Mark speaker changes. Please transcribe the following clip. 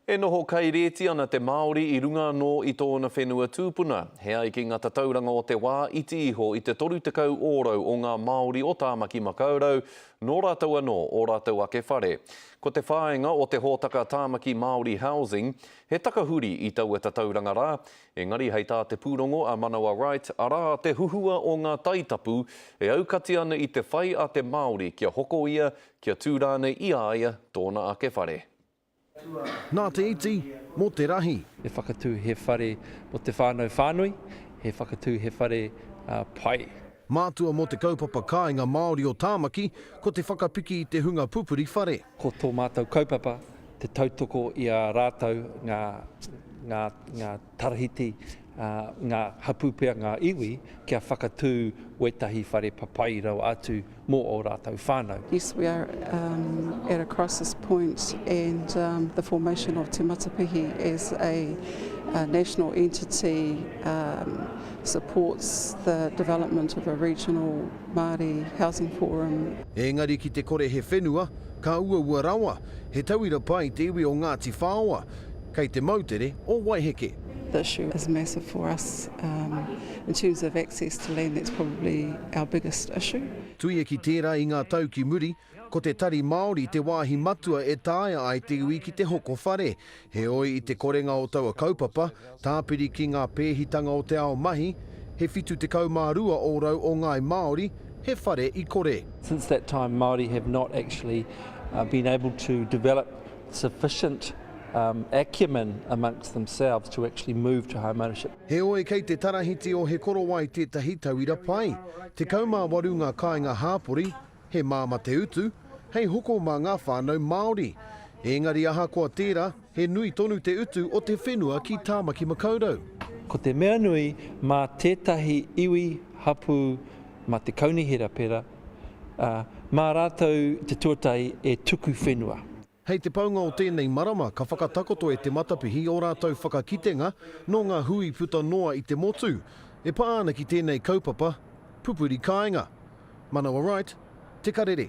Speaker 1: E noho kairēti ana te Māori i runga anō i tōna whenua tūpuna. He ai ki ngā tatauranga o te wā iti iho i te 30 ōrau o ngā Māori o Tāmaki Makaurau, nō rātou anō ō rātou ake whare. Ko te whāinga o te hōtaka Tāmaki Māori Housing, he takahuri i taua tatauranga rā, engari hei tā te pūrongo a Manawa Wright, arā te huhua o ngā taitapu e aukati ana i te whai a te Māori kia hoko ia kia tū rānei i a ia tōna ake whare.
Speaker 2: Nā te iti, mō te rahi. He whakatū he
Speaker 3: whare mō te whānau whānui, he whakatū he whare pai. Mātua mō
Speaker 2: te kaupapa kāinga Māori o Tāmaki, ko te whakapiki i te hunga pupuri whare. Ko tō mātou
Speaker 3: kaupapa te tautoko i a rātou ngā. Tarahiti ngā hapū pea ngā iwi kia whakatū wētahi whare papai rawa atu mō ō rātou whānau. Yes, we
Speaker 4: are at a crisis point and the formation of Te Matapihi as a national entity supports the development of a regional Māori housing forum. Engari ki te kore
Speaker 2: he whenua, ka uaua rawa, He tauira pai te iwi o Ngāti Whaoa, kei te moutere o Waiheke. The issue is
Speaker 4: massive for us in terms of access to land, that's probably our biggest issue. Tuia ki tērā
Speaker 2: i ngā tau ki muri, ko te tari Māori te wāhi matua e taea ai te iwi ki te hoko whare. Heoi, i te korenga o taua kaupapa, tāpiri ki ngā pēhitanga o te ao mahi, he 72 ōrau o ngāi Māori, he whare i kore. Since that time, Māori
Speaker 3: have not actually been able to develop sufficient acumen amongst themselves to actually move to home ownership. Heoi, kei te
Speaker 2: tarahiti o He Korowai tētahi tauira pai. 18 ngā kāinga hāpori, He māmā te utu, hei hoko mā ngā whānau Māori. Ēngari ahakoa tērā, he nui tonu te utu o te whenua ki Tāmaki Makaurau. Ko te mea
Speaker 3: nui, mā tētahi iwi hapū, mā te kaunihera pērā, ā, mā rātou te tuatahi e tuku whenua. Hei te paunga
Speaker 2: o tēnei marama ka whakatakoto e Te Matapihi ō rātou whakakitenga nō ngā hui puta noa i te motu e pā ana ki tēnei kaupapa pupuri kāinga. Manawa Wright, Te Karere.